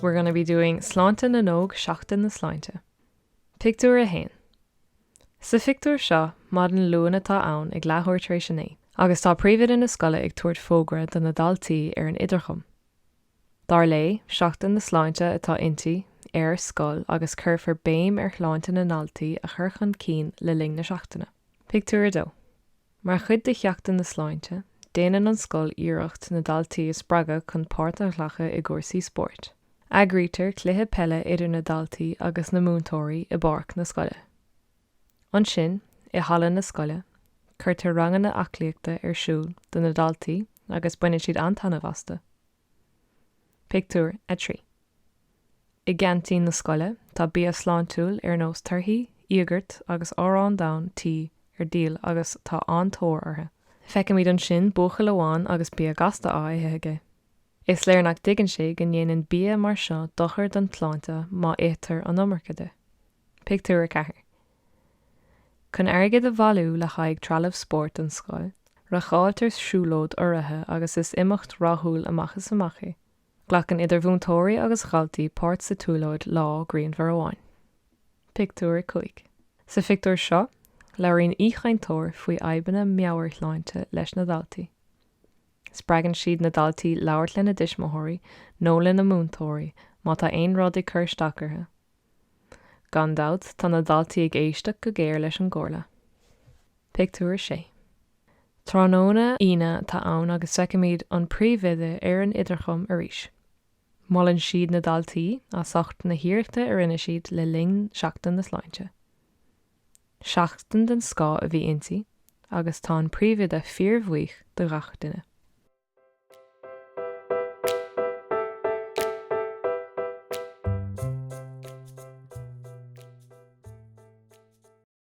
We're gonna be doing Sláinte na nÓg Seachtain na Sláinte. Pictiúr 1 Sa phictiúr seo, maidin Luain atá ann ag leathuair tar éis a naoi agus tá príomhoide na scoile ag tabhairt fógra do na daltaí ar an idirchum. Dar léi, Seachtain na Sláinte atá inti, ar scoil agus cuirfear béim ar shláinte na ndaltaí a chur chun cinn le linn na seachtaine. Pictiúr 2 Mar chuid de Sheachtain na Sláinte, déanann an scoil iarracht na daltaí a spreagadh chun páirt a ghlacadh i gcúrsaí spóirt. Eagraítear cluiche peile idir na daltaí agus na múinteoirí i bpáirc na scoile. Ansin, i halla na scoile, cuirtear ranganna aclaíochta ar siúl do na daltaí agus baineann siad an-taitneamh astu. Pictiúr 3 I gceaintín na scoile, tá bia sláintiúil ar nós torthaí, íogart agus arán donn tí ar díol agus tá an-tóir orthu. Feicimid ansin buachaill amháin agus bia gasta á ithe aige. Is léir nach dtuigeann sé go ndéanann bia mar seo dochar don tsláinte má itear an iomarca de. Pictiúr 4 Chun airgead a bhailiú le haghaidh trealamh spóirt don scoil, reáchtáiltear siúlóid urraithe agus is imeacht rathúil amach is amach é. Glacann idir mhúinteoirí agus dhaltaí páirt sa tsiúlóid lá grianmhar amháin. Pictiúr 5 Sa phictiúr seo, labhraíonn aoichainteoir faoi fhadhbanna meabhairshláinte leis na daltaí. Spreagann siad na daltaí labhairt lena dtuismitheoirí nó lena múinteoirí má tá aon rud ag cur isteach orthu. Gan dabht, tá na daltaí ag éisteacht go géar leis an gcomhairle. Pictiúr 6 Tráthnóna Aoine atá ann agus feicimid an príomhoide ar an idirchum arís. Molann siad na daltaí as ucht na hiarrachta a rinne siad le linn Seachtain na Sláinte. Seachtain den scoth a bhí inti agus tá an príomhoide fíorbhuíoch de gach duine.